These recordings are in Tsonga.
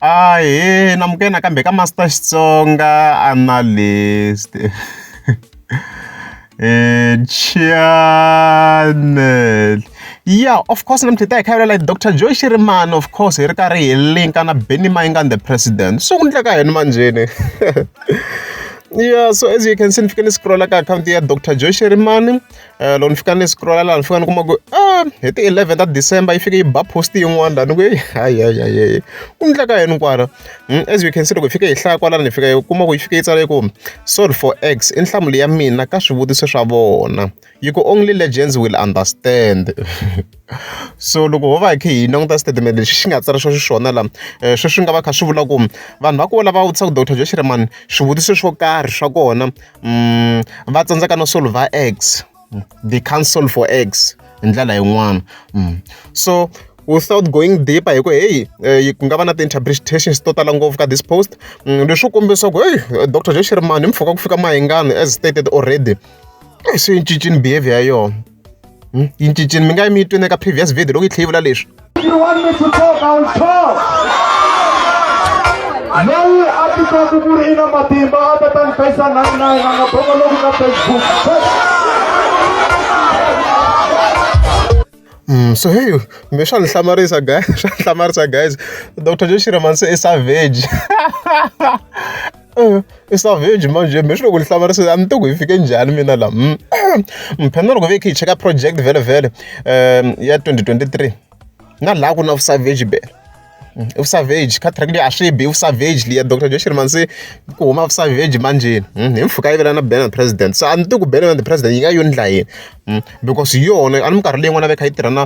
Ahee namukela nakambe ka Master Xitsonga Analyst channel yeah of course namuntlha hi ta hi kha vulela Dr Joy Shirimani of course hi ri karhi hi linka na Benny Mayengani the president swi ku endleka yini manjheni yeah so as you can see ni fike ni scrolla ka akhawunti ya Dr Joy Shirimani loko ni fika ni scroll-a laha ni fika ni kuma ku hi ti eleven ta December yi fike yi ba post yin'wana laha ni ku hayihayihayi ku endleka yini kwala hmm, as you can see loko hi fike hi hlaya kwalano hi fika hi kuma ku yi fike yi tsale ku sorry for x i nhlamulo ya mina ka swivutiso swa vona yi ku only legends will understand so loko ho va hi kha hi languta statement lexi xi nga tsara swo xiswona la eh, sweswi nga va kha swi vula ku vanhu va ku lava vutisaka dr joshreman swivutiso swo karhi swa kona va tsandzeka no solver X the council for X hi ndlela yin'wana so without going deeper hi ku heyi eh, ku nga va na ti-interpretations to tala ngopfu ka this post mm, leswi kombisa ku heyi eh, dr jeshirmani mpfhuka ku fika mahingani as stated already eh, swi yi cincini behavior ya yona Hmm? yi cincile mi nga yi mi yi twini eka previous video loko yi tlhe yi vula leswi loyi a titwaku ku ri i na matimba a ta ta ni fesa nani na yena nga boko loku ka facebook Mm, so hey, me swa ni hlamarisa guys, swa ni hlamarisa guys. Dr. Joshira Manse is savage. I savage manjhe mehe swi loko ni hlamarisile a ni tiku hi fike njhani mina la mphena loko ve khe hi cheka project vhele vhele um ya twenty twenty three na laha ku na vusavage bele i vusavage kha track leyi a swi bi i vusavage leya doctor joshiri mansi ku huma vusavage manjheni hi mpfhuka yi vela na bele na president so a ni tiku bele na the president yi nga yo ni dlayini. because hi yona a ni minkarhi leyi n'wana a va a kha a tirha na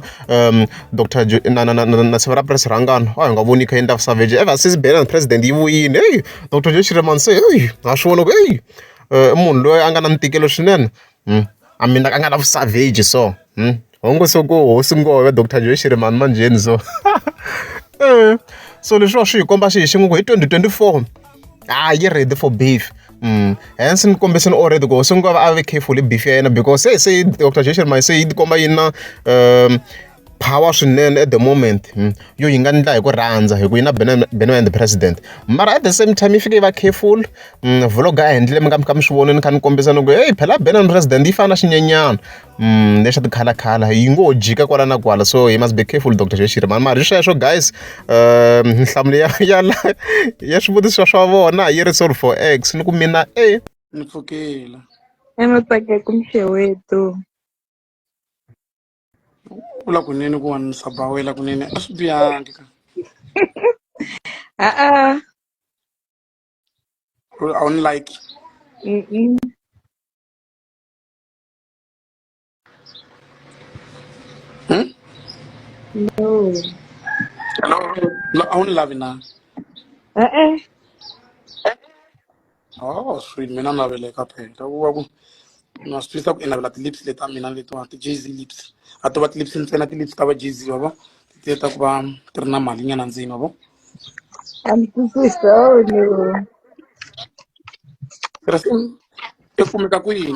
doctor na na na na na siva ra purasi ra ngano a hi nga voni yi kha yi endla savage ever since ban and president yi vuyile heyi doctor Joe Shirimani se heyi ha swi vona ku heyi i munhu loyi a nga na ntikelo swinene a mina a nga na vu savage so ho ngo se ku hosi ngome doctor Joe Shirimani manjheni so so leswiwa swi hi komba xihi xin'we ku hi twenty twenty four. ah yi ready for beef Mm. hence ni kombise ni already ku sungula va a ve careful hi beef ya yena because se se dr jason my se yi tikomba yi na um power swinene at the moment mm. yo yi nga ndla hi ku rhandza hi ku yi na beno and the president mara at the same time yi fike yi va careful mm, vlog a endlile mi nga mi kha mi swi vonini kha ni kombisa ni ku heyi phela beno and president yi fana na xinyenyana le swa ti-colour colour yi ngo ho jika kwala na kwala so he must be careful doctor Xeshiri mhani mara hi sweswo guys nhlamulo ya ya la ya swivutiso swa vona yi ri sorry for x ni ku mina e ni pfukela ematsakeko mxewetu vula kunene ku wanisa bawela kunene a swi biyangi ka a-a a wu ni like Mm-mm. Hmm? No. Hello. No, I only love you now. Uh-uh. Oh, sweet. Me not have like a pen. That was na swi twisa ku i navela ti-lips leti a mina letiwa ti-jz lips a to va ti-lips ntsena ti-lips ta va jz wa vo ti ta ku va ti ri na mali nyana ndzeni wa vo I'm thinking so new. tirhisa i kumeka kwini